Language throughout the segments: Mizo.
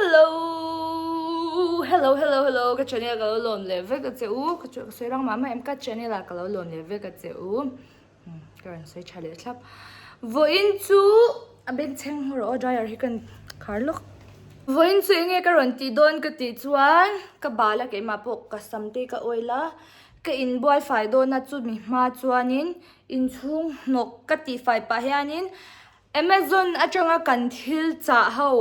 Hello Hello Hello Hello ka channel ka lo lawn leh vek a che u ka chu ka sawi rang mah mah em ka channel ah ka lo lawn leh vek a che u ka rawn sawi tha leh thlap vawiin chu a bag chheng hmu rawh a dryer hi kan khar lawk vawiin chu enge ka rawn tih dawn ka tih chuan ka bala keimah pawh ka sam te ka oil a ka in buai fai dawn a chu mi hma chuanin inchhung hnawk ka tih fai pah hianin Amazon atanga kan thil chah ho.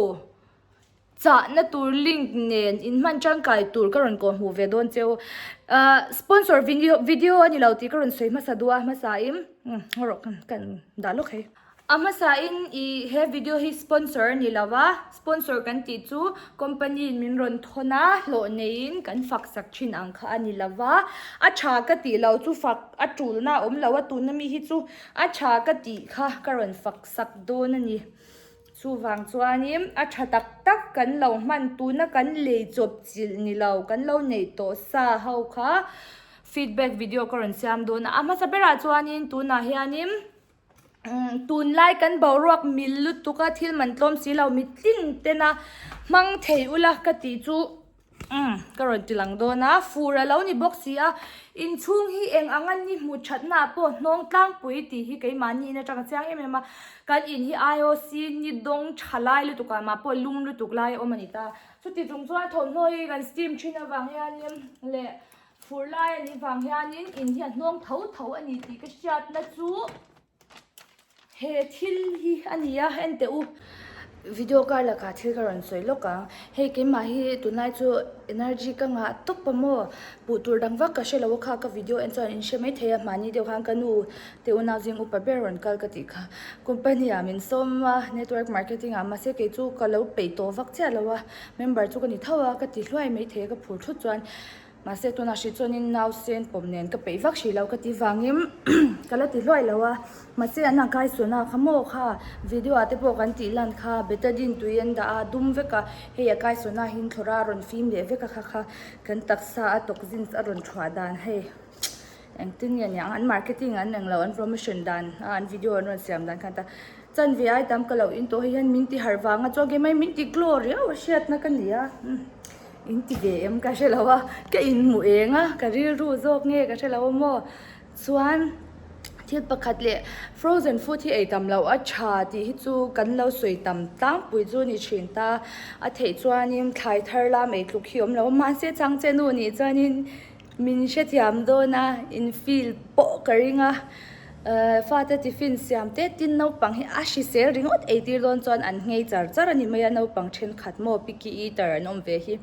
chahna tur link nen in hman tangkai tur ka rawn kawh hmuh ve dawn che u ah sponsor video video a ni lo tih ka rawn sawi hmasa dua hmasa in umm ngaw rawh ka kan dah lawk hi a hmasa in i he video hi sponsor a ni lo va sponsor kan tih chu company in min rawn thawn a hlawh nei in kan fak sak thin ang kha a ni lo va a tha ka tih lo chu fak a tul na awm lo a tuna mi hi chu a tha ka tih kha ka rawn fak sak dawn a ni. Chuvang chuanin a tha tak tak kan lo hman tuna kan lei chawp chilh ni lo, kan lo neih tawh sa ho kha feedback video ka rawn siam dawn a. A hmasa berah chuanin tunah hianin tunlai kan boruak mil lutuk a thil man tlawm si lo, mitling tena hmang thei ula ka tih chu. Umm, ka rawn ti lang dawn a, fur a lo ni bawk si a, inchhung hi eng ang an ni hmuh thatnaah pawh hnawng tlangpui tih hi keimahni in atang chiang em em a, kan in hi IOC ni dawng tha lai lutuk ah mah pawh lum lutuk lai a awm a ni ta. Chuti chung chuan thawmhnaw hi kan steam thin avang hian in leh fur lai a nih vang hian in, in hi a hnawng tho tho a ni tih ka hriat na chu. He thil hi a ni a en teh u. Video kar lakah thil ka rawn sawi lawk ang. Hei keimah hi tunlai chu energy ka ngah tawp a maw. Hmuh tur dang vak ka hre lo a kha. Ka video en chuan in hre mai thei a. Mahni deuh khan ka nu te u nau zing upa ber rawn kal ka tih kha. Company ah min sawm a, network marketing ah mahse kei chu ka lo peih tawh vak chiah lo a. Member chu ka ni tho a, ka ti hluai mai thei a ka phur thut chuan. Mahse tunah hri chuan in nau sen pawm nen ka peih vak hrilo ka ti vangin ka la ti hluai lo a, mahse an kai suan a kha maw kha, video ah te pawh kan tih lan kha, betadine tui an dah a, dum vek a, hei a kai suan a hin thlawrh a, a rawn fim leh vek a kha kha, kan taksa a toxins a rawn thuah dan hei. Engtin nge niang an marketing an eng lo an promotion dan a an video an rawn siam dan khan ta chanve ai tam ka lo in tawh hei hian min ti harh vang a chuan kei mai min ti glaw riau a hriat na ka ni a umm in ti ve em ka hre lo a ka in hmu eng a ka rilru zawk nge ka hre lo a maw chuan thil pakhat leh frozen food hi ei tam loh a tha tih hi chu kan lo sawi tam tlangpui chu a ni thin ta a theih chuan in thlai thar lam ei tluk hi awm lo a mahse chhang che nu nih chuan in. Min hrethiam dawn a, in feel pawh ka ring a. Fate tiffin siam teh tin naupang hi a hrisel ringawt eitir dawn chuan an ngei char char a ni mai a, naupang thenkhat maw picky eater an awm ve hi.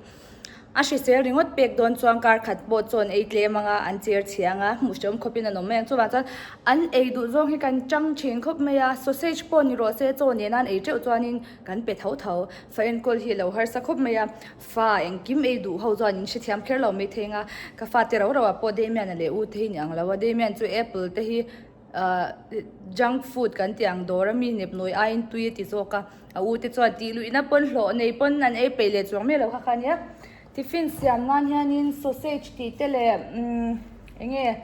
A hrisel ringawt pek dawn chuan kar khat pawh chawn ei tlem anga an chair chhia anga hmuh hrehawm khawpin an awm mai ang. Chuvang chuan an ei duh zawng hi kan chang thin khawp mai a, sausage pawh ni rawh se chaw nena an ei teuh chuanin kan pe tho tho. Fahenkawl hi a lo harsa khawp mai a. Fa, engkim ei duh ho chuan in hrethiam kher lo mai theng a, ka fate rau rauh ah pawh Damian-a leh u te hi ni ang lo a, Damian chu apple te hi ahh junk food kan tih ang dawra mi nep nawi aiin tui a ti zawk a, a u te chuan tih luihna pawn hlawh nei pawn an ei peih leh chuang mai lo kha kha nia, tiffin siam nan hianin sausage tih te leh umm eng nge.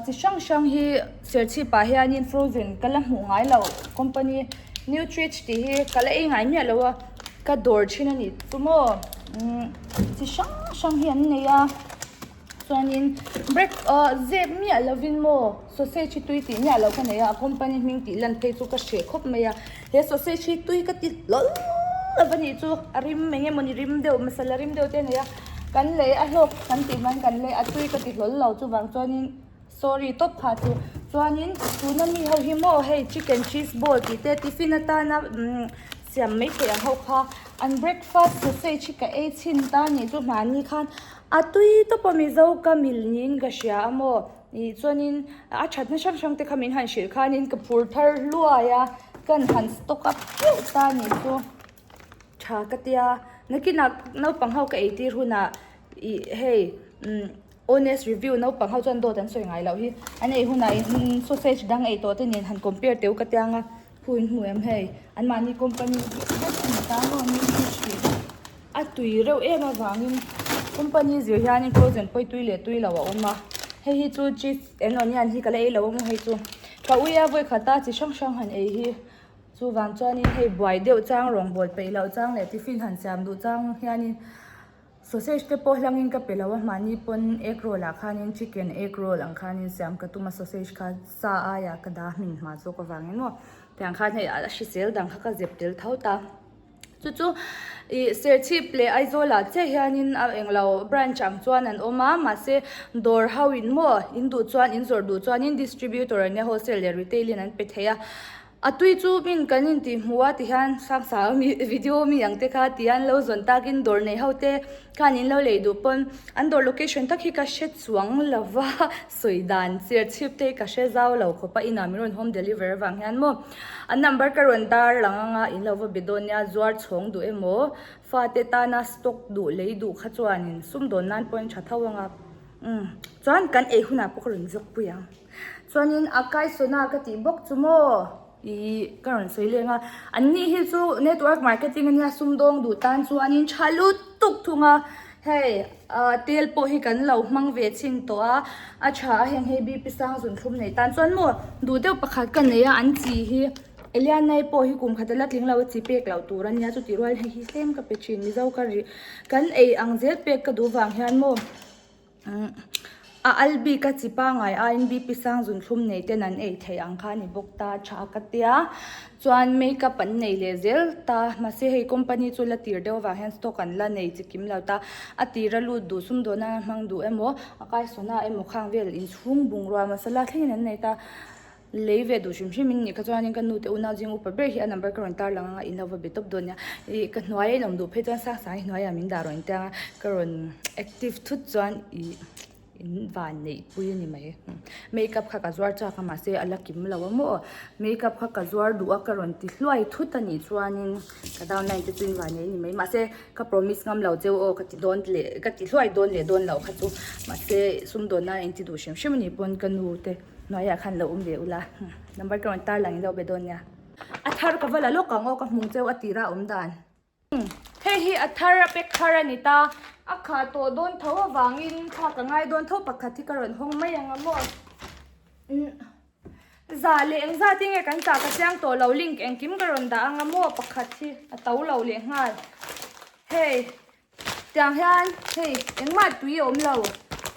Chi hrang hrang hi serchhip ah hianin frozen ka la hmuh ngai lo company nutrich tih hi ka la ei ngai miah lo a ka dawr thin a nih chu maw umm chi hrang hrang hi an nei a chuanin break ah zep miah lovin maw sausage hi tui tih miah lo ka nei a a company hming tih lan phei chu ka hre khawp mai a. He sausage hi tui ka ti hlawlh hlawlh a nih chu, a rim eng nge mawni rim deuh, masala rim deuh te a nei a, kan leh a hlawk kan tih hman kan leh a, tui ka ti hlawlh lo chuvang chuanin sorry tawp kha chu. Chuanin tuna mi ho hi maw hei chicken cheese ball tih te tiffin atana siam mai theih ang ho kha an breakfast sausage hi ka ei chhin ta a nih chu mahni khan a tui tawp a mizo ka milh niin ka hria a maw. Nih chuanin a thatna hrang hrangte kha min han hrilh khanin ka phur thar hluai a, chuan han stock up teuh ta a nih chu. Tha ka ti a, nakinah naupang ho ka eitir hunah ih hei honest review naupang ho chuan dawt an sawi ngai loh hi. An ei hunah in sausage dang ei tawhte nen han compare teuh ka tiang a. Pu in hmu em hei? An mahni company hi vet hnu tan rawh an ring chu thin a tui reuh em avangin company zir hianin projen pawi tui leh tui lo a awm a. Hei hi chu chief enawn hian hi ka la ei lo a maw hei chu. Ka ui a vawi khata chi hrang hrang han ei hi. Chuvang chuanin hei buai deuh chang rawngbâwl peih loh chang leh tiffin han siam duh chang hianin. Sausage te pawh hlangin ka pe lo a, mahni pawn egg roll ah khanin chicken egg roll ang khanin siam ka tum a, sausage kha sa aiah ka dah hmin hma zawk avangin maw tiang khan hei a hrisel dang kha ka zep tel tho ta. Chu chu ih Serchhip leh Aizawl ah chiah hianin a englo branch ang chuan an awm a, mahse dawr ho in maw in duh chuan in zawrh duh chuanin distributor ah nia wholesale leh retailing an pe thei a. A tui chu min kan intih hmu a ti hian Hrangsa mi video mi ang te kha ti an lo zawn tak in dawr nei ho te khan in lo lei duh pawn an dawr location tak hi ka hre chuang lo va sawi dan chhiar chhip te hi ka hre zau lo khawp a inah min rawn home deliver avang hian maw an number ka rawn dar lang ang a in lo va be dawn nia zuar chhawng duh emaw fa te tana stock duh lei duh kha chuan in sum dawn nan pawh in tha tho ang a umm chuan kan ei hunah pawh ka rawn zawk pui ang. Chuanin a kaisawhna ka tih bawk chu maw? I ka rawn sawi leng a. An ni hi chu network marketing a nia, sumdawng duh tan chuanin tha lut tuk thung a, hei tel pawh hi kan lo hmang ve chhin tawh a, a tha a heng hi BP sang zun thlum nei tan chuan maw? Duh deuh pakhat ka nei a an chi hi, Elianai pawh hi kum khata la tling lo a chi pek lo tur a nia, chuti rual hei hi tlem ka pe thin, Mizo ka rih kan ei ang zel pek ka duh vang hian maw? A al bik a chi pangai aiin Bipisang zun thlum nei ten an ei theih ang kha a ni bawk ta tha ka tia a chuan makeup an nei leh zel ta mahse hei company chu la tir deuh avang hian stock an la nei chi kim lo ta a tira lut duh sum dawh nana hmang duh emaw a kai saw na emaw khang vel inchhung bungrua masala thlengin an nei ta. lei ve duh hrim hrim in ni kha chuan in ka nu te una zing upa ber hi a number ka rawn intar lang anga in lo va be tawp dawn nia ih ka hnuaia in awm duh phei chuan sang sangin hnuaia min dah rawn inteng a ka rawn active thut chuan ih in van neih pui a ni mai makeup kha ka zuar chak a mahse a la kim lo a maw makeup kha ka zuar duh a ka rawn ti hluai thut a nih chuan in ka down line te chu in van neih a ni mai mahse ka promise ngam lo che aw ka ti dawn leh ka ti hluai dawn leh dawn loh kha chu mahse sum dawn nan in ti duh hrim hrim a nih pawn ka nu te Hnuaiah khan lo awm ve ula. Number tawng in tar lang in lo be dawn nia. A thar ka va la lawk ang aw ka hmung cheu a tirah a awm dan. Hei hi a thar a pek thar a ni ta. A kha tawh dawn tho avang in thlak a ngai dawn tho pakhat hi ka rawn hawng mai ang a maw. Za leh eng zat hi nge kan chah ka chiang tawh lo link engkim ka rawn dah ang a maw pakhat hi a to lo leh nghal. Hei. Tiang hian hei engmah tui a awm lo.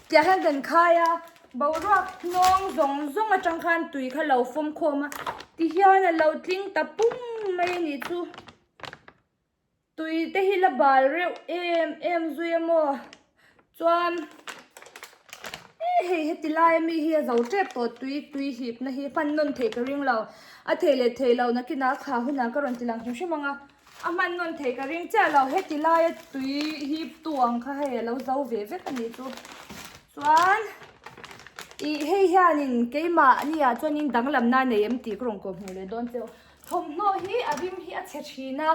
Tiang hian kan khai a, boruak hnawng zawng zawng atang khan tui kha lo fawm khawm a. Tihian a lo tling ta pum mai a nih chu. Tui te hi la bal reuh em em zui a maw chuan eh hei heti laia mi hi a zo tep tawh tui tui hipna hi hman nawn thei ka ring lo. A thei leh thei lohna kinah kha hunah ka rawn ti lang hrim hrim ang a. A hmannawn thei ka ring chiah lo heti laia tui hi tu ang kha hei alo zo ve vek ani chu chuan ih hei hianin keimah ni ah chuan in danglam na nei em tih ka rawn kawh hmuh leh dawn che u thawmhnaw hi a rim hi a chhe thin a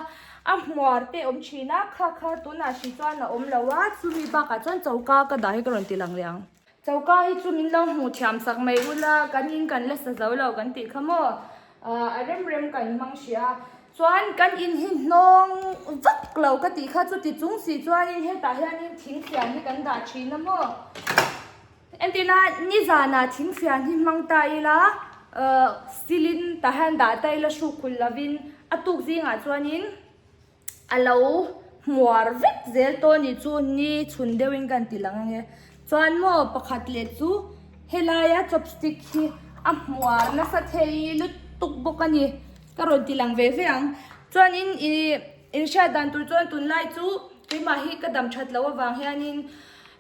a hmuar te awm thin a kha kha tunah hri chuan a awm lo a chumi bakah chuan choka ka dah hi ka rawn ti lang leh ang. Choka hi chu min lo hmuh thiam sak mai ula, kan in kan la sa zo lo kan tih kha maw? Aah, a rem rem kan hmang hria a. Chuan kan in hi hnawng vak lo ka tih kha, chuti chung si chuanin hetah hianin thing fian hi kan dah thin a maw? Entina nizanah thing fian hi hmang ta ila, aah, steel in tah hian dah ta ila hruk khulh lovin a tuk zingah chuanin a lo hmuar vek zel tawh ni chu ni chhun deuh in kan ti lang ange chuan maw pakhat leh chu helai a chopstick hi a hmuar nasa thei lutuk bawk a ni ka rawn ti lang ve ve ang chuan in ihh in hriat dan tur chuan tunlai chu keimah hi ka dam that loh avang hian in.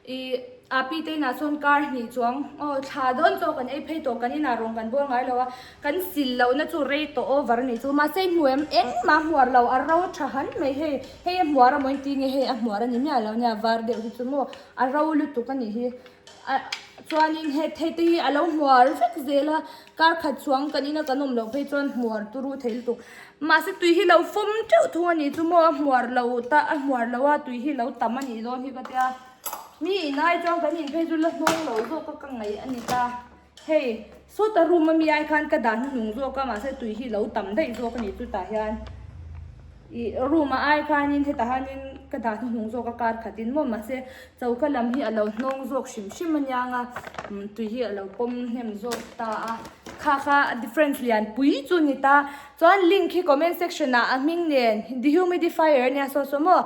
I Api te inah chuan car hnih chuang aw thla dawn tawh kan ei phei tawh kan inah rawn kan bual ngai lo a kan sil loh na chu rei tawh over a nih chu mahse i hmuh em engmah hmuar lo a ro tha han mai hei hei a hmuar a maw inti nge hei a hmuar a ni miah lo nia var deuh hi chu maw a ro lutuk a nih hi a chuanin he theite hi a lo hmuar vek zel a. Kar khat chuang kan ina kan awm loh phei chuan hmuar turu thei lutuk. Mahse tui hi lo fawm teuh thung a nih chu maw, a hmuar lo ta, a hmuar lo a tui hi lo tam a nih dawn hi ka tia, mi in ai chuan kan in phei chu la hnawng lo zawk a ka ngaih a ni ta. Hei, sawta room ami ai khan ka dan hnu nung zawk a, mahse tui hi lo tam daih zawk a nih chutah hian. I room a ai khanin heta hanin ka dah na hung zawk a kar khatin maw mahse choka lam hi a lo hnawng zawk hrim hrim aniang a tui hi a lo pawm hnem zawk ta a kha kha a difference lian pui chu a ni ta chuan link hi comment section ah a hming nen dehumidifier ania saw saw maw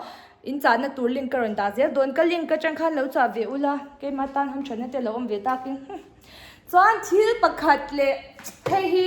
in chahna tur link ka rawn dah zel dawn ka link atang khan lo chah ve ula keima tan han that na te a lo awm ve takin hum chuan thil pakhat leh hei hi.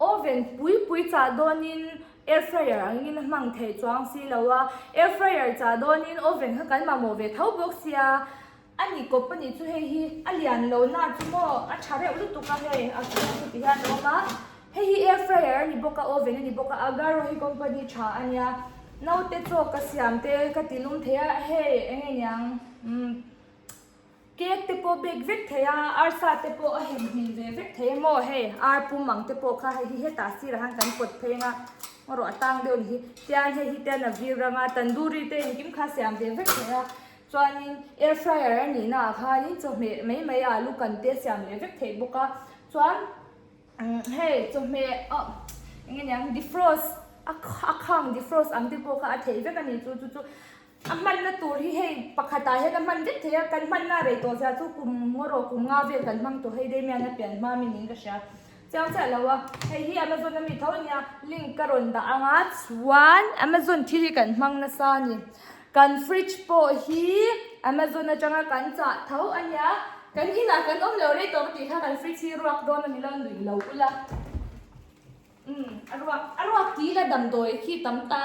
Oven pui pui chah dawnin air fryer angin a hmang thei chuang si lo a, air fryer chah dawnin oven kha kan mamawh ve tho bawk sia. A ni kawp a nih chu hei hi a lian lo na chu maw a tha reuh lutuk a hei a chhung chu ti hian a awm a. Hei hi air fryer a ni bawk a oven a ni bawk a, Agarro hi company tha a nia. Naute chaw ka siam te ka ti lum thei a hei eng nge niang umm. Cake te pawh bake vek thei a, arsa te pawh a heng hlim ve vek thei emaw hei, ar pum ang te pawh kha hei hi hetah sirah han kan kawt phei anga marawh a tang deuh nihi. Tian hei hi te an la vir rang a, tandoori te engkim kha siam ve vek thei a, chuanin air fryer a nih naah khanin chawhmeh mai mai a lu kan te siam leh vek thei bawk a, chuan umm hei chawhmeh oh eng nge niang defrost a khang defrost ang te pawh kha a theih vek a ni chu chu chu. A hmanna tur hi hei pakhatah hian a hman vek thei a, kan hmanna rei tawh zia chu kum ngaw rawh kum nga vel kan hmang tawh hei Damian a pian hma min in ka hria chiang chiah lo a, hei hi Amazon ami tho nia link ka rawn dah anga chuan Amazon thil hi kan hmang nasa a ni, kan fridge pawh hi Amazon atanga kan chah tho a nia, kan inah kan awm lo rei tawh ka tih kha kan fridge hi ruak dawn ami lo nuih lo ula umm a ruak a ruak tih ila damdawi khi tam ta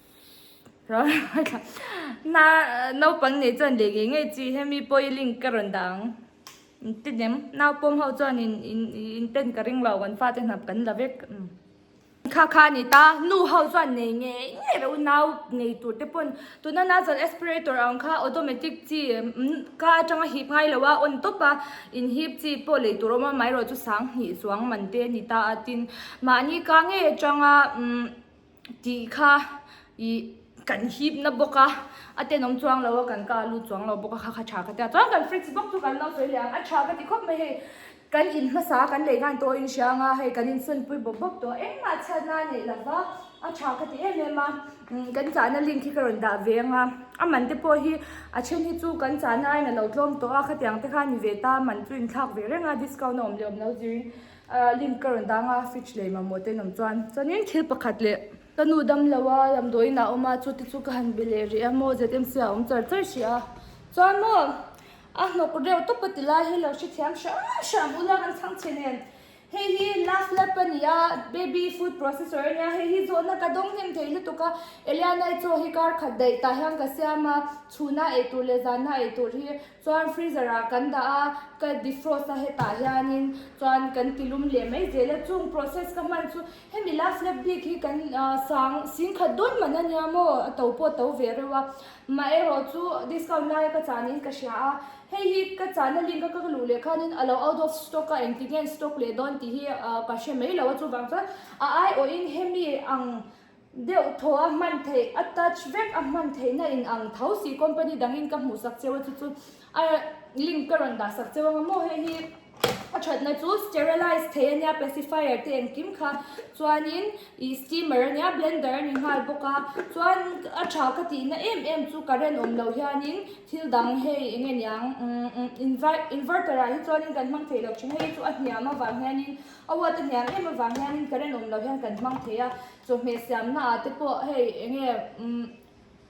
Na naupang nih chuan leh ngei ngei chi he mi pawi link ka rawn dah ang entilem naupawm ho chuan in in in pen ka ring lo kan fa te hnam kan la vek um kha kha a ni ta nu ho chuan nei ngei ngei lo nau nei tur te pawn tuna na zal aspirator ang kha automatic chi um ka atanga hip ngai lo a on tawp a in hip chi pawh lei tur a awm a mah erawh chu sang hnih chuang man te a ni ta a tin mahni ka ngei atanga um tih kha ih kan hip na bawk a, a tenawm chuang lo a, kan kah lut chuang lo bawk a, kha kha tha ka tia chuan kan fridge box chu kan lo sawi leh ang, a tha ka ti khawp mai hei, kan in hmasa a kan lei nghal tawh a in hria anga hei kan insawimpui bawp bawp tawh a, engmah chhiat na a neih lo va, a tha ka ti em em a, umm kan chahna link hi ka rawn dah ve anga, a man te pawh hi a then hi chu kan chahna aina lo tlawm tawh a, khatiang te khan ni ve ta man chu inthlak ve reng a, discount a awm leh awm lo zir in. A link ka rawn dang a, fridge leh mamawh te an awm chuan. Chuanin thil pakhat leh ka nu dam lo a lam duaiin a awm a, chu te chu ka han be leh rih a, maw ZMC ah a awm char char hrih a. Chuan maw a hnawk reuh tawp a ti lai hi lo hre thiam hram hram u la kan chhang chhe nen. Hei hi last lap a ni a, baby food processor a nia, hei hi zawhna ka dawng hnem thei lutuk a, Eliana-i chaw hi kar khat daih tah hian ka siam a, chhuna ei tur leh zanna ei tur hi Chuan freezer ah kan dah a, ka defrost a hetah hianin chuan kan ti lum leh mai zel a, chung process ka hman chu hemi last lap bik hi kan sang sing khat dawn man ania maw a to pawh to ve reuh a, mah erawh chu discount laia ka chahniin ka hria a, hei hi ka chahna link a ka luh leh khanin a lo out of stock a, engti nge an stock leh dawn tih hi ka hre mai lo a, chuvang chuan a aiawhin hemi ang. Deuh thaw a hman theih, a touch vek a hman theihna in ang tho si company dangin ka hmuh sak cheu a chu chu a link ka rawn dah sak cheu ang a maw hei hi a thatna chu sterilize thei ania pacifier te engkim kha chuanin ih steamer ania blender a ni nghal bawk a chuan a tha ka tihna em em chu current awm loh hianin thil dang hei eng nge niang umm inverter ah hi chuan kan hmang theih loh thin a hei chu a hniam avang hianin-- A uat a hniam em avang hianin current awm lo hian kan hmang thei a, chawhmeh siamna ah te pawh hei eng nge umm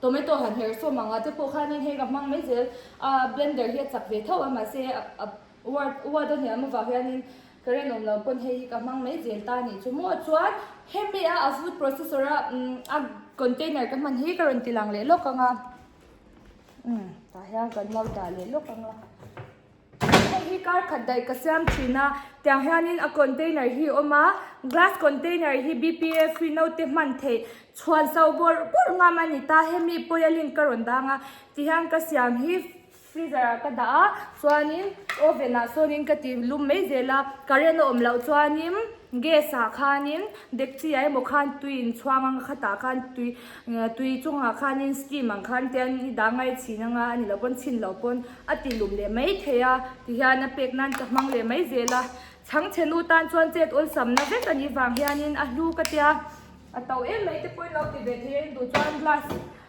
tomato han her sawm ang ah te pawh khanin hei ka hmang mai zel a blender hi a chak ve thauh a mahse a uat a uat a hniam avang hianin current awm lo pawn hei hi ka hmang mai zel ta nih chu maw chuan hemi a a food processor a umm a container ka hman hi ka rawn ti lang leh lawk ang a umm tah hian kan lo dah leh lawk ang a. Hei hi kar khat daih ka siam thin a, tiang hianin a container hi awm a, glass container hi bpa free note hman theih chhuan so bawrh bawrh ngam a ni ta, hemi pawelin ka rawn dang a ti hian ka siam hi freezer ah ka dah a chuanin oven ah sawnin ka ti lum mai zel a, current a awm loh chuanin gas ah khanin dekchi ah emaw khan tui in chhuang anga khatah khan tui tui chungah khanin steam ang khan tian i dah ngai thin anga a ni loh pawn chhin loh pawn. A tih lum leh mai thei a, tihian a pek nan ka hmang leh mai zel a. Chhangchhenu tan chuan chet awlsamna vek a nih vang hianin a hlu ka tia. A to em mai te pawhin lo ti ve thei a, in duh chuan glass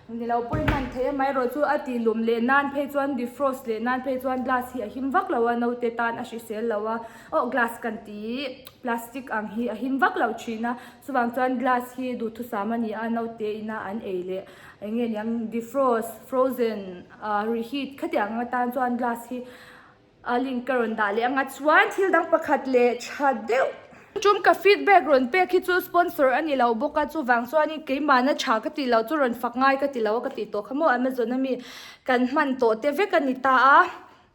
ni lo pawhin hman thei em erawh chu a tih lum leh nan phei chuan defrost leh nan phei chuan glass hi a him vak lo a, naute tan a hrisel lo a. Aw glass kan ti hi plastic ang hi a him vak lo thin a, chuvang chuan glass hi duhthusam a ni a, naute ina an ei leh eng nge niang defrost, frozen, Rih hi khatiang anga tan chuan glass hi a link ka rawn dah leh anga chuan thil dang pakhat leh tha deuh tum ka feedback rawn pek hi chu sponsor a ni lo bawk a chuvang chuanin keimahna tha ka tih lo chu rawn fak ngai ka ti lo a ka tih tawh kha maw amazon ami kan hman tawh te vek a ni ta a.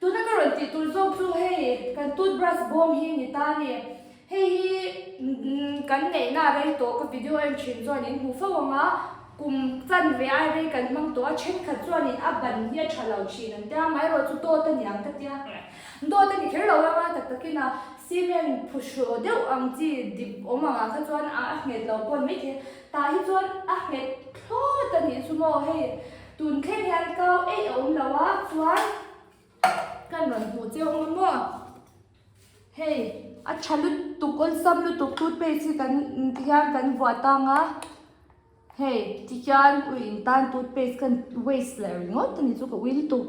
Tuna ka rawn tih tur zawk chu hei kan toothbrush bawm hi ni ta ni. Hei hi kan neihna a rei tawh ka video en thin chuan in hmu fo ang a, kum chan ve ai rei kan hmang tawh a, thenkhat chuan in a ban hi a tha lo thin an tia, mai erawh chu dawt a niang ka tia, dawt a ni kher lo ang a, tak tak in a cement phu hrawh deuh ang chi dip awm ang ah kha chuan a nghet lo pawn maithei, tah hi chuan a nghet thlawt a nih chu maw hei Tun thleng hian kau eih a awm lo a chuan kan rawn hmuh cheu ang a maw? Hei, a tha lutuk awlsam lutuk toothpaste hi kan ti hian kan vuah tang a. Hei, tihian ui in tan toothpaste kan waste leh ringawt a ni chu ka ui lutuk.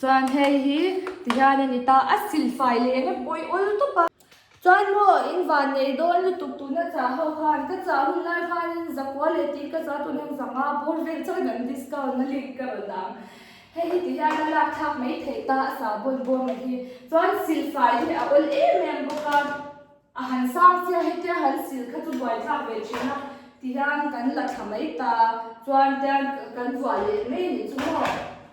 Chuan hei hi tihian a ni ta, a silfai leh em em a pawi awl tawp a. Chuan maw in van nei dawn lutuk tun a chah ho khan ka chah hun lai khanin zakua leh tih ka za tun em zang a bur vel chuan an discount na link ka rawn ang hei hi ti hian a lak thlak mai thei ta a sa bawn bawm a hi chuan silfai hi a awl em em bawk a a han sang che a hetia han sil kha chu buai thlak ve thin a ti hian kan la tha mai ta chuan tian kan zuah leh mai ni chu maw.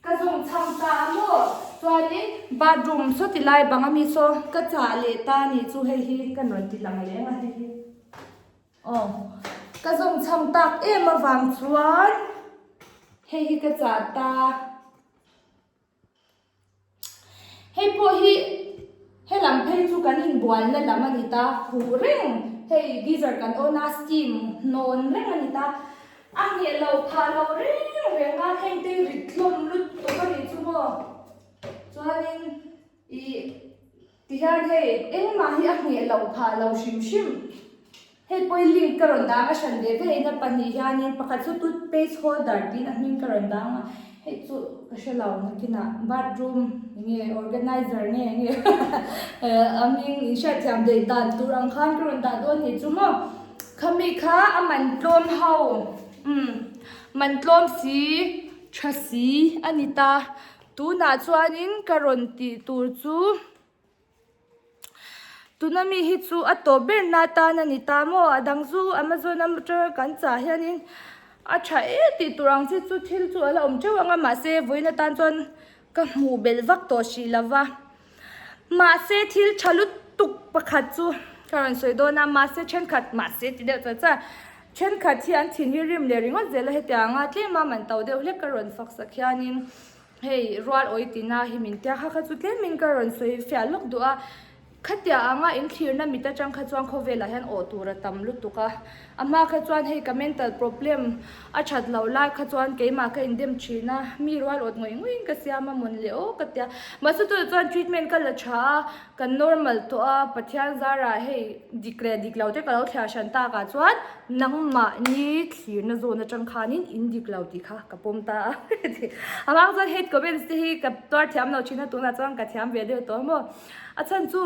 Ka zawng chhang ta a maw? Chuanin bathroom saw ti lai bang a mi saw ka chah leh ta ni chu hei hi ka nuan ti lang leng a hei hi. Aw, ka zawng chhang tak em avang chuan hei hi ka chah ta. Hei pawh hi. He lam phei chu kan inbualna lam a ni ta, fuh reng hei geyser kan on a, steam hnawn reng a ni ta, a ngheh lo phah lo reng reng a, heng te rit hlawm lut tuk a nih chu maw. Chuanin ih ti hian hei engmah hi a ngheh lo phah lo hrim hrim. Hei pawhin link ka rawn dang a hran ve ve ina pahnih hianin pakhat chu tut page holder tiin a hming ka rawn dang a hei chu ka hre lo nakinah bathroom enge organizer nge enge a hming in hriatthiam daih dan tur ang khan ka rawn dah dawn ni chu maw khami kha a man tlawm ho umm man tlawm si tha si a ni ta tunah chuanin ka rawn tih tur chu. Tuna mi hi chu a tawp ber na atan a ni ta maw? A dang zu Amazon atanga kan chah hianin a tha e tih tur ang chi chu thil chu a la awm teuh ang a, mahse vawiin atan chuan ka hmuh belh vak tawh si lo va. Mahse thil tha lutuk pakhat chu ka rawn sawi dawn a, mahse thenkhat, mahse ti deuh ta chuan thenkhat hian thinrim rim leh ringawt zel a hetiang anga tlem a man to deuh hlek ka rawn faksak hianin Hei rual awi tina hi min tia kha kha chu tlemin ka rawn sawi fiah lawk duh a, khatia anga in thlirna mit atang kha chuan khaw velah hian awh tur a tam lutuk a, a hma kha chuan hei ka mental problem a that loh lai kha chuan keimah ka indem thin a, mi rual awt ngawih ngawih in ka siam a, mawn leh aw ka tia, mahse chu ti chuan treatment ka la tha a. Kan normal tawh a, Pathian zarah hei dik leh dik lo te ka lo thliar hran tak ah chuan nangmah ni thlirna zawhna chang khan in in dik lo tih kha ka pawm ta a. Amang chuan hate comments te hi ka tuar thiam lo thin a, tunah chuan ka thiam ve deuh tawh maw. A chhan chu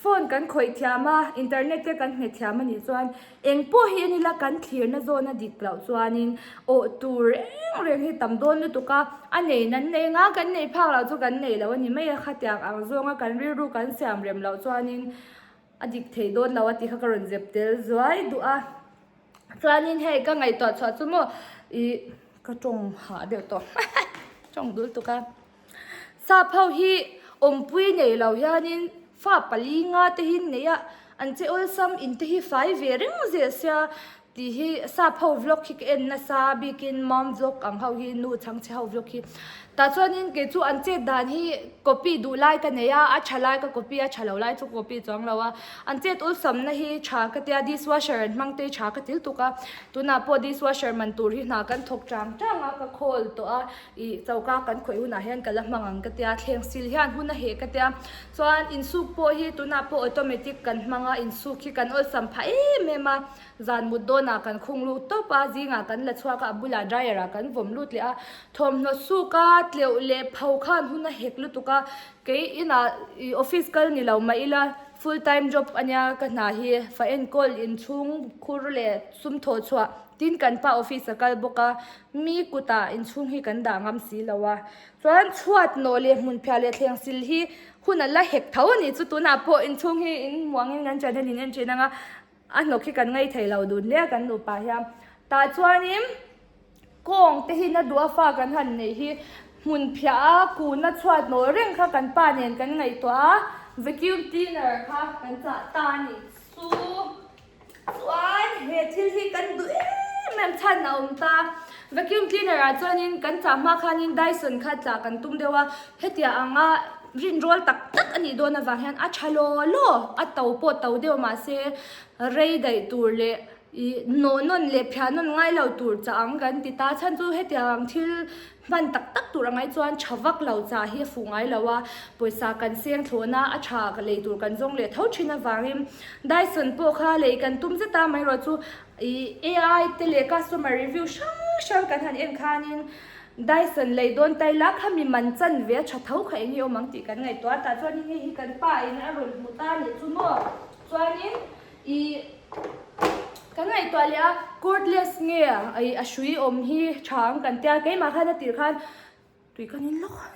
phone kan khawih thiam a, internet te kan hnge thiam a nih chuan Eng pawh hi a ni la, kan thlirna zawhna dik loh chuanin awh tur reng reng hi tam dawn lutuk a, a nei nan nei nga kan nei phak loh chu kan nei loh a ni mai a, khatiang ang zawnga kan rilru kan siam rem loh chuanin a dik thei dawn lo a tih kha ka rawn zep tel zuai duh a. Chuanin hei ka ngaihtuah chhuah chu maw ih ka tawng hah deuh tawh tawng dul tuk a. Sapho hi awmpui nei lo hianin fa pali nga te hi an nei a, an che awlsam in te hi fai ve reng zia sia tih hi Sapho vlog hi ka en nasa bikin mom vlog ang ho hi nu Chhangchhe ho vlog hi tah chuanin kei chu an chet dan hi copy duh lai ka nei a, a tha lai ka copy a tha lo lai chu ka copy chuang lo a, an chet awlsam na hi tha ka tia dishwasher an hmang te tha ka thil tuk a, tunah pawh dishwasher man tur hi hna kan thawk chang chang a ka khawl tawh a. I choka kan khawih hunah hian ka la hmang ang ka tia, thleng sil hian hun a heh ka tia. Chuan insuk pawh hi tunah pawh automatic kan hmang a, insuk hi kan awlsam pha em em a, zan mut dawnah kan khung lut tawp a, zingah kan la chhuak a, a bulah dryer ah kan vawm lut leh a. Thawmhnaw suka tleuh leh pho khan hun a hek lutuk a, kei inah i office kal ni lo mah ila full time job a nia ka hna hi, fa enkawl inchhung khur leh sumthaw chhuah tin kan pa office a kal bawk a. Mi kutah inchhung hi kan dah ngam si lo a, chuan chhuat nawh leh hmunphiah leh thleng sil hi hunah la hek tho a ni chu, tunah pawh inchhung hi in muangin kan ṭan hian in en ṭhin ang a, a hnawk hi kan ngei thei lo dun hle a kan nupa hian. Tah chuanin kawng te hi na duh a fa kan han neih hi hmunphiah a kunna chhuat nawh reng kha kan pa nen kan ngaihtuah a vacuum cleaner kha kan chah ta a ni chu. Chuan he thil hi kan duh em em chhan a awm ta. Vacuum cleaner ah chuanin kan chah hma khanin Dyson kha chah kan tum deuh a, hetia anga rinrawl tak tak a nih dawn avang hian a tha law law, a to pawh to deuh mahse rei daih tur leh ih nawh nawn leh phiah nawn ngai lo tur chah ang kan ti ta. Chhan chu hetia ang thil Hman tak tak tur a ngai chuan tha vak lo chah hi a fuh ngai lo a, pawisa kan seng thlawh na a tha lei tur kan zawng leh tho thin avangin Dyson pawh kha lei kan tum zet a, maherawh chu ih ai te leh customer review hrang hrang kan han en khanin Dyson lei dawn tai la kha mi man chanve a tha tho kha eng nge awm ang tih kan ngaihtuah a, tah chuan hei hi kan pa in a rawn hmu ta a nih chu maw? Chuanin I ka ngaihtuah leh a, cordless nge i a hrui awm hi tha ang kan tia, keimah khan a tirh khan tui ka ning lawk a,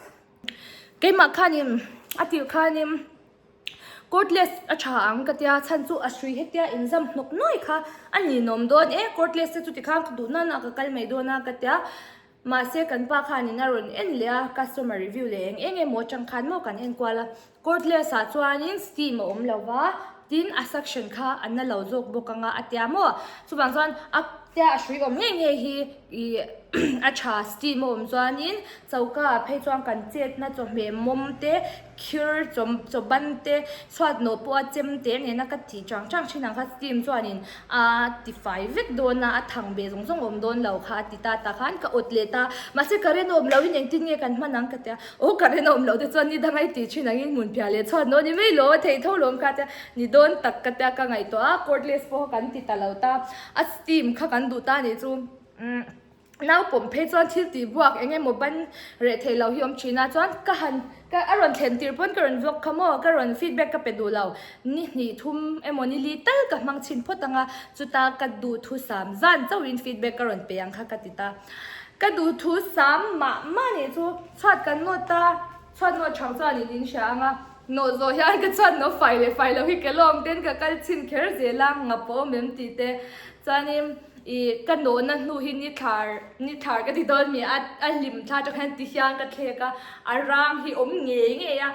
keimah khanin a tirh khanin cordless a tha ang ka tia, chhan chu a hrui hetia inzam hnawk nuai kha a ninawm dawn e, cordless te chuti khan ka duh nana ka kal mai dawn a ka tia. Mahse, kan pa khan in a rawn en leh a, customer review leh eng eng emaw atang khan maw kan en kual a. Cordless ah chuan in steam a awm lo va, tin a suction kha a na lo zawk bawk ang a, a tia maw? Chuvang chuan a tia a hrui awm ngei ngei hi ih a tha steam a awm chuan in choka ah phei chuan kan chetna chawhmeh mawm te, Khir chaw chaw ban te chhuat nawh pawh a chem teh nena ka tih chang chang thin ang kha Steam chuanin a tifai vek dawn a, a thang beh zawng zawng awm dawn lo kha a ti ta ta khan ka awt leh ta, mahse ka ren awm lohin engtin nge kan hman ang ka ti a, aw ka ren awm loh te chuan ni dangai tih thin angin hmun piah leh chhuat nawh ni mai lo a thei tho lo ang kha a ti a, ni dawn tak ka ti a ka ngaihtuah a cordless pawh kha kan ti ta lo ta a Steam kha kan duh ta nih chu umm. naupawm phei chuan thil tih buak eng emaw ban reh theih loh hi awm thin a chuan ka han ka a rawn thlen tir pawn ka rawn vlog kha maw ka rawn feedback ka pe duhlo ni hnih thum emaw ni li tal ka hmang chhin phawt anga chuta ka duh thu sam zan chauh in feedback ka rawn pe ang kha ka ti ta ka duh thu sam mah mah nih chu chhuat kan ngawt ta. Chhuat nawh chhang chuan in in hria ang a. Nawh zawh hian ka chhuat no fai leh fai lo hi ke lawm ten ka kal chhin kher zel a, ngap pawh awm em tih te. Chuanin i ka nawhna hnu hi ni thlar ni thlar ka ti dawn mi a, a hlim thla tawh hian ti hian ka thlek a, a rang hi awm ngei ngei a,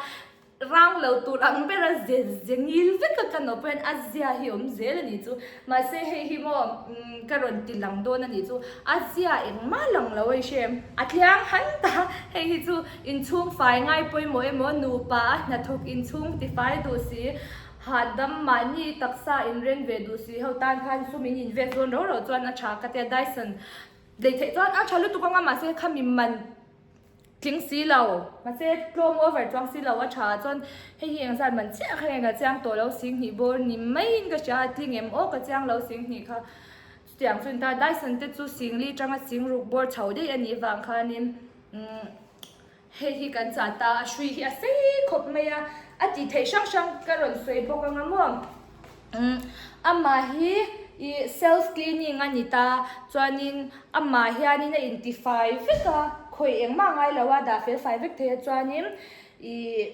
rang lo tur ang bera ze ze ngil vek a, ka nawh pawh hian a zia hi awm zel a nih chu. Mahse hei hi maw ka rawn ti lang dawn a nih chu, a zia engmah lang lo eisem. A tliang han ta, hei hi chu inchhung fai ngai pawimawh emaw, nupa a hnathawk inchhung ti fai duh si, hahdam mahni taksa inreng ve duh si ho tan khan sum in invet zawn rau rau chuan a tha ka tia, Dyson lei theih chuan a tha lutuk anga mahse kha mi man. Tling si lo. Mahse, tlawm over chuang si lo. A tha ah chuan hei hi eng zat man chiah kha nge ka chiang tawh lo si hnih bawr ni mai in ka hria a, tling em aw ka chiang lo si hnih kha. Chutiang chuan ta Dyson te chu sing li tanga sing ruk bawr chho daih a nih vang khanin umm hei hi kan chah ta a, a hrui hi a sei khawp mai a, a tih theih hrang hrang ka rawn sawi bawk ang a maw. Umm, amah hi i self cleaning a ni ta, chuanin amah hianin a intifai vek a, khawih engmah ngai lo a dah felfai vek thei a chuanin ih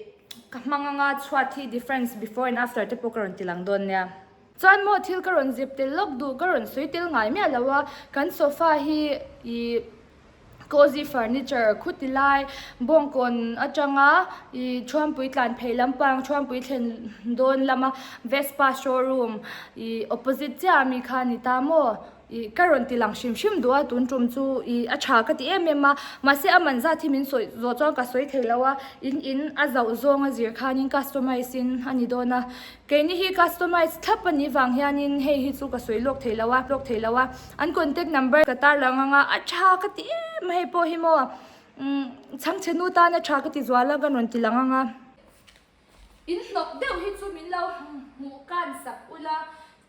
ka hmang anga chhuat hi difference before and after te pawh ka rawn ti lang dawn nia. Chuan maw thil ka rawn zep tel lawk duh ka rawn sawi tel ngai miah lo a, kan sofa hi ih Cozy Furniture khuti ti lai bawngkawn atanga i Thruampui tlanphei lampang Thruampui thlen dawn lama Vespa showroom i opposite chiah ami kha a ni ta maw i ka rawn ti lang hrim hrim duh a tun tum chu i a tha ka ti em em a mahse a man zat hi min sawi zawh chuan ka sawi thei lo a in in a zauh zawnga zir khanin customize in a ni dawn a. Keini hi customize thlap a nih vang hianin hei hi chu ka sawi lawk thei lo a, lawk thei lo a, an contact number ka tar lo ngang a, a tha ka ti em a hei pawh hi maw umm Chhangchhenu tan a tha ka ti zual a ka rawn ti la ngang a. In hnawk deuh hi chu min lo hmuh kan sak ula,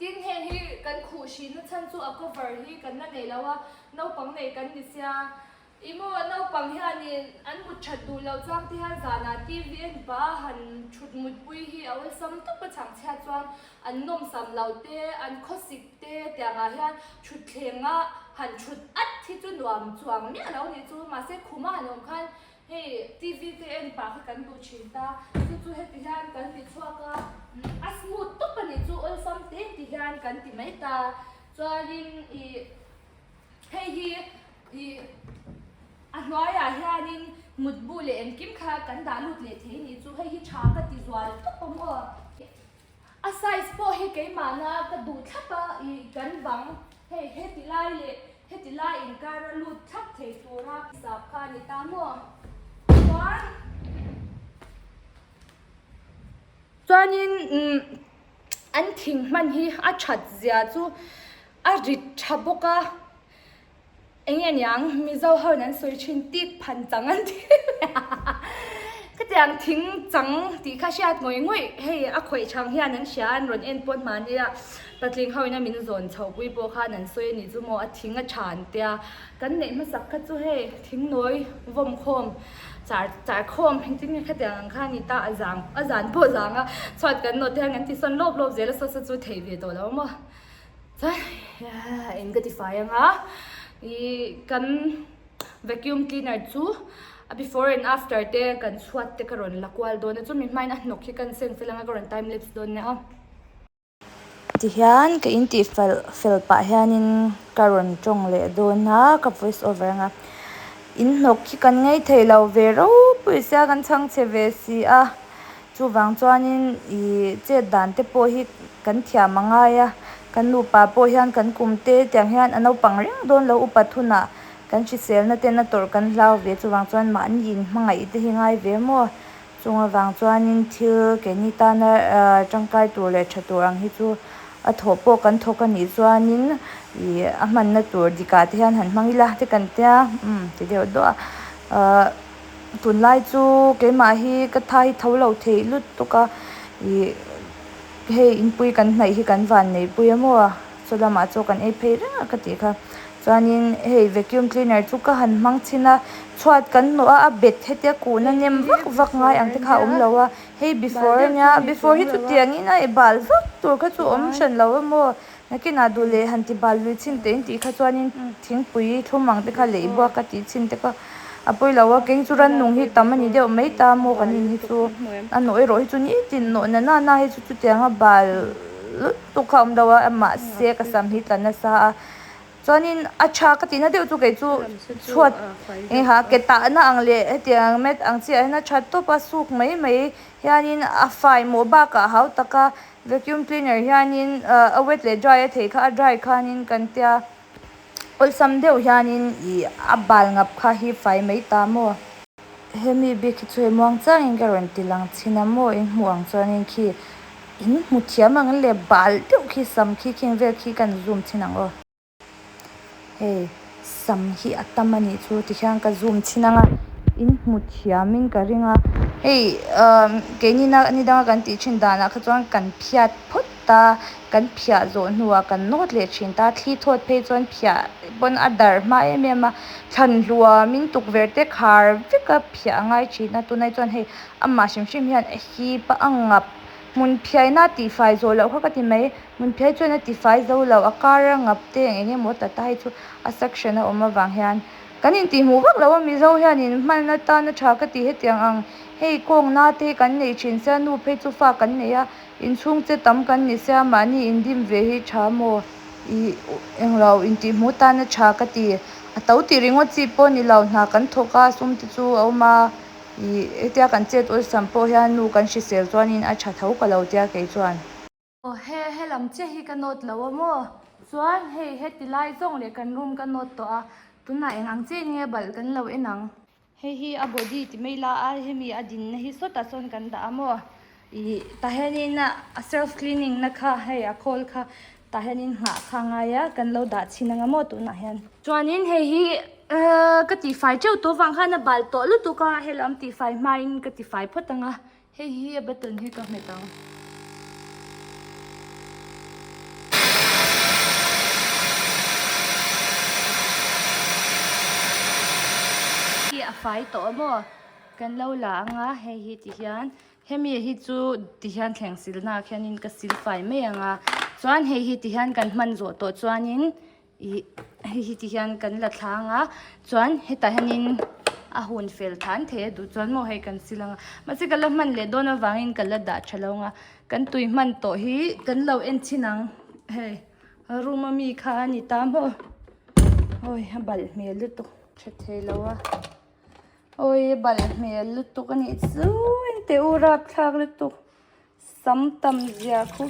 tin hei hi kan khuh hri na chhan chu a cover hi kan la nei lo a, naupang nei kan ni sia, I maw naupang hianin an mut that duh loh chuang te hian zanah tvn pa han thut mutpui hi a awlsam tawp a changchhiat chuan an nawmsam loh te, an khawsik te tiangah hian thutthlengah han thut at hi chu nuam chuang miah lo nih chu. Mahse khuma han awm khan hei tvn pa hi kan duh thin ta, chu chu heti hian kan ti chhuak a, a smooth tawp a nih chu awlsam te ti hian kan ti mai ta. Chuanin ih Hei hi i a hnuaiah hianin mutbu leh engkim kha kan dah lut leh thei ni chu hei hi tha ka ti zual thup a maw? A size pawh hi keimahna ka duh thlap a i kan vang hei heti lai leh heti lai inkara lut thlap thei tura sap kha a ni ta maw? Chuan chuanin umm an thing hman hi a that zia chu a rit tha bawk a, eng nge niang Mizo hoin an sawi thin tik phan chang an ti khatiang thing chang tih kha hriat ngawih ngawih hei a khawih chang hian an hria an rawn en pawh mahnia patling hoin a min zawn chho pui pawh khan an sawi a nih chu maw a thing a tha an tia kan neih hmasak kha chu hei thingnawi vawmkhawm. Char char khawm hi chu nge khatiang ang kha a ni ta, a zang a zan pawh zang a, chhuat kan nawt te hian kan tisawn lawp lawp zel a sa sa chu thei ve tawh lo maw. Chuan in ka ti fai anga i kan vacuum cleaner chu a before and after te kan chhuat te ka rawn la kual dawn a, chu mi hmain a hnawk hi kan sense a langa ka rawn time lapse dawn nia. Ti hian ka in tih fel fel pah hianin ka rawn tawng leh dawn a ka voice over ang a, in hnawk khi kan ngei thei lo ve ropui sia kan chhang che ve si a, chuvang chuanin ih chet dan te pawh hi kan thiam a ngai a, kan nupa pawh hian kan kum te tiang hian a naupang reng dawn lo u pathum ah kan hriselna ten a tawrh kan hlau ve chuvang chuan mahni in hmangaih te hi ngai ve maw. Chunga vang chuanin thil ke ni tana tangkai tur leh tha tur ang hi chu a thawh pawh kan thawk a nih chuanin ih a hmanna tur dikah te hian han hmang ila te kan tia umm ti deuh duah a tunlai chu keimah hi ka tha hi tho lo theih lut tuk a ih hei inpui kan hnaih hi kan van neihpui emaw. Saw lamah chu kan ei phei reng a ka tih kha. Chuanin hei vacuum cleaner chu ka han hmang chhin a, chhuat kan hmu a, a bet hetia kuhna nem vak vak ngai ang te kha a awm lo a, hei before a nia, before hi chuti angin a bal vak tur kha chu awm hran lo em aw, nakinah duh leh han ti bal lui chhin tein tih kha chuanin thingpui thlum ang te kha lei buak ka tih chhin te ka. A pawi lo a, keng chu rannung hi tam a ni deuh mai ta a, Mawka nin hi chu a nawh erawh hi chu nitin nawh na na na hi chu chutiang a bal lutuk kha a awm deuh a, mahse ka sam hi tla nasa a, chuanin a tha ka tihna deuh chu kei chu chhuat eng ha ke tahna ang leh hetiang mat ang chiah hian a tha tawp a, suk mai mai hianin a fai mawh bakah hau taka vacuum cleaner hianin a wet leh dry a thei kha a dry khanin kan tia. Awlsam deuh hianin i a bal ngap kha hi fai mai ta maw? Hemi bik hi chu hei muang changin ka rawn ti lang chhin a maw? In hmuh ang chuanin khi in hmu thiam ang le bal deuh khi sam khi khing vel khi kan zoom chhin ang aw. Hei sam hi a tam anih chu ti khian ka zoom chhin anga in hmu thiamin ka ring a. Hei umm keini na ni danga kan tih chin danah kha chuan kan phiat phawt. ta kan phiah zawh hnuah kan nawt leh thin ta thli thawt phei chuan phiah pawn a darh hma em em a thlan hluam in tukverh te khar vek a phiah a ngai thin a tunah chuan hei amah hrim hrim hian a hip a a ngap hmun phiai na tih fai zawh loh kha ka ti mai hmun phiai chuan a tifai zo lo a kar a ngap te ang eng emaw tata hi chu a section a awm avang hian kan intihmuh vak lo a mizo hian in hman atan a tha ka ti hetiang ang hei kawkna te kan neih thin se a nu phei chu fa kan neih a. Inchhung che tam kan ni se a, mahni indim ve hi tha maw i englo intihmu tan a tha ka ti. A to tih ringaw chi pawh ni lo, hna kan thawk a sum te chu a awm a i, hetia kan chet awlsam pawh hian nu kan hrisel chuanin a tha tho ka lo tia kei chuan. Aw he, he lam che hi ka note lo a maw? Chuan hei, heti lai zawng leh kan room ka note tawh a, tunah eng ang che nia balh kan lo en ang. Hei hi a body ti mai la a, hemi a dinna hi sawta chuan kan dah a maw ih tah hianin a self cleaning na kha hei a khawl kha tah hianin nghah kha a ngai a, kan lo dah chhin ang a maw tunah hian. Chuanin hei hi ka tihfai teuh tawh vang khan a bal tawh lutuk a, hela awm tihfai hmain ka tifai phawt ang a. Hei hi a button hi ka hmet ang. Hi a fai tawh a maw? Kan lo la ang a hei hi ti hian hemi hi chu ti hian thleng silna ah khian in ka sil fai mai ang a chuan hei hi ti hian kan hman zawh tawh chuan in. Ih hei hi ti hian kan la thlang a chuan hetah hianin a hun fel than thei a duh chuan maw hei kan sil ang a mahse ka la hman leh dawn avangin ka la dah tha lo ang a kan tui hman tawh hi kan lo en thin ang hei a room a mi kha a ni ta maw awi a balh hmel lutuk tha thei lo a awi a balh hmel lutuk a nih chu engteh u rapthlak lutuk. Sam tam zia khu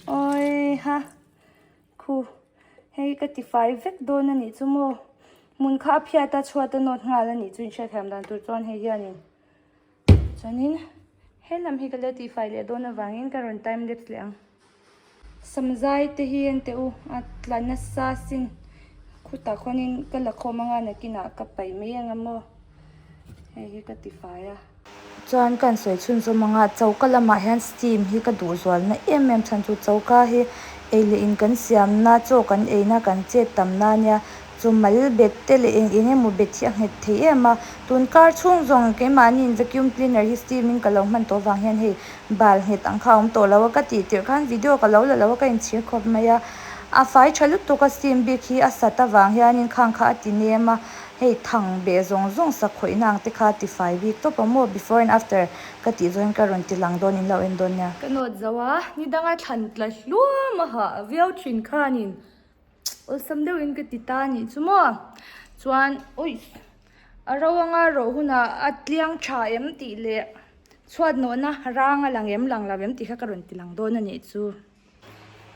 awiha khu hei ka tifai vek dawn anih chu maw hmun kha a phiat a chhuat a nawt nghal anih chu inhriat thiam dan tur chuan hei hian in chuanin he lam hi ka la tifai leh dawn avangin ka rawn time lapse leh ang. Samzai te hi en teh u, a tla nasa sin khutah khawnin ka la khawm anga nakinah ka paih mai anga maw? Hei hi ka tifai a. Chuan kan sawi chhunzawm anga choka lamah hian steam hi ka duh zualna em em chhan chu choka hi ei leh in kan siamna chaw kan eina kan chet tam na nia. Chu mal bet te leh eng eng emaw bet hi a nghet thei em a, tun kar chhung zawng keimahni'n vacuum cleaner hi steam in ka lo hman tawh vang hian hei bal nghet ang kha a awm tawh lo a ka tih tirh khan video ka lo la lo a ka inchhir khawp mai a, a fai tha lutuk a steam bik hi a sat avang hianin khang kha a ti nem a, hei thang beh zawng zawng sak khawihna ang te kha a ti fai bik tawp a maw before and after ka tih zawngin ka rawn ti lang dawn in lo en dawn nia. Ka nawt zo a, ni danga thlan tla hluam a ha viau thin khanin awlsam deuhin ka ti ta anih chu maw? Chuan uih! A ro anga rawh hunah a tliang tha em tih leh chhuatnawhna rang a lang em lang lo em tih kha ka rawn ti lang dawn anih chu.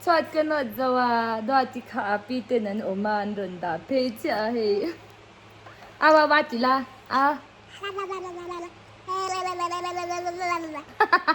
Chhuat ka nawt zo a, Duati kha Api ten an awm a, an rawn dah phei chiah a hei. Au au a ti la, a. Hahaha.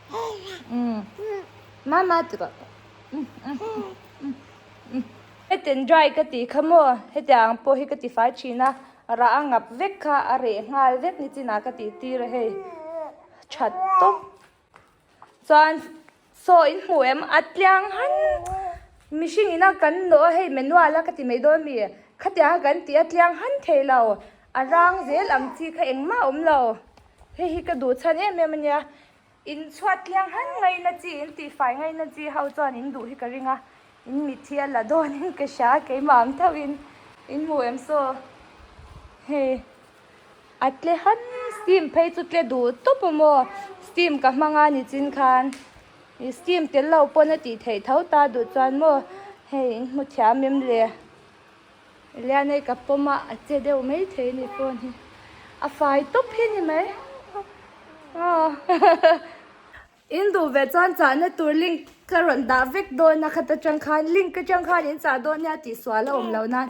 Mama tura Hetian dry ka tih kha maw? Hetiang pawh hi ka tifai thin a, rah a ngap vek kha a reh nghal vek nichinah ka tihtir a hei. That tawp. Chuan Saw in hmuh em? A tliang han. Mihring ina kan nawh a hei, Menuala ka ti mai dawn a mi e. Khatianga kan tih a tliang han thei lo. A rang zel ang chi kha engmah a awm lo. Hei hi ka duh chhan em em a nia. In chhuat thiang han ngaina chi, in tihfai ngaina chi ho chuan in duh hi ka ring a. In mitthi a la dawn in ka hria a, keimah ang thauh in in mu em saw? Hei a tle han steam phei chu tle duh tawp a maw? Steam ka hmang a nichin khan i steam tel lo pawn a tih theih tho ta duh chuan maw hei in hmu thiam em le. Elianei ka pawm a, a che deuh mai thei a ni pawn hi. A fai tawp hi ni mai. In duh ve chuan chahna tur link ka rawn dah vek dawn a khat atang khan, link atang khan in chah dawn nia tih sual a awm lo nan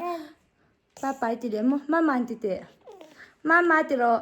Papai ti leh maw? Mama'n ti teh. Mama ti rawh.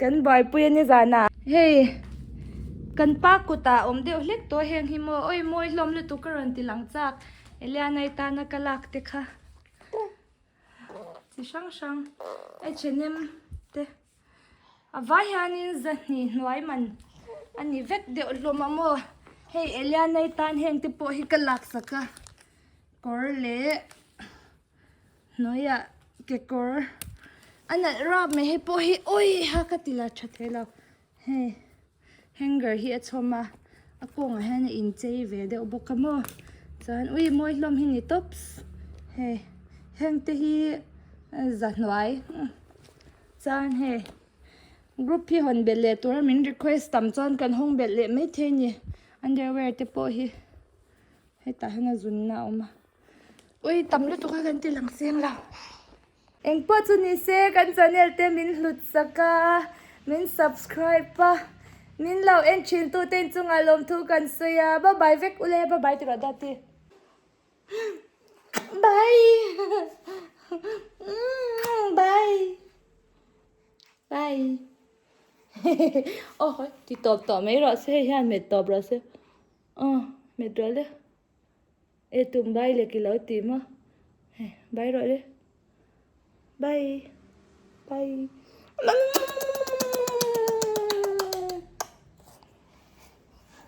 Kan buaipui a ni zan a. Hei kan pa kuta awm deuh hlek tawh heng hi maw? Awi mawi hlawm lutuk ka rawn ti lang chak. Eliana i tana ka lak te kha chi hrang hrang H&M te a vai hianin zahnih hnuai man a ni vek deuh hlawm a maw? Hei Eliana i tan heng te pawh hi ka lak sak a kawr leh. Hnuaiah kekawr a nalh rap mai hi pawh hi awii ha ka ti la tha thei lo. Hei hanger hi a chhawm a, a kawngah hian a inchei ve deuh bawk a maw. Chuan ui mawi hlawm hi ni tawp hei heng te hi zahnuai chuan hei group hi hawn belh leh tura min request tam chuan kan hawng belh leh maithei a ni underwear te pawh hi hetah hian a zunna a awm a. Ui tam lutuk a kan ti lang seng lo. Eng pawh chu ni se kan channel te min hlut sak a, min subscribe a, min lo en thin tu te in chungah lawmthu kan sawi a, bye bye vek u le, bye bye ti rawh Daddy. Bye umm bye bye hehehe aw hawi ti tawp tawp mai rawh se hei hian met tawp rawh se aw met rawh le. E tum bai lek ilo tih maw he bai rawh le bai bai umm.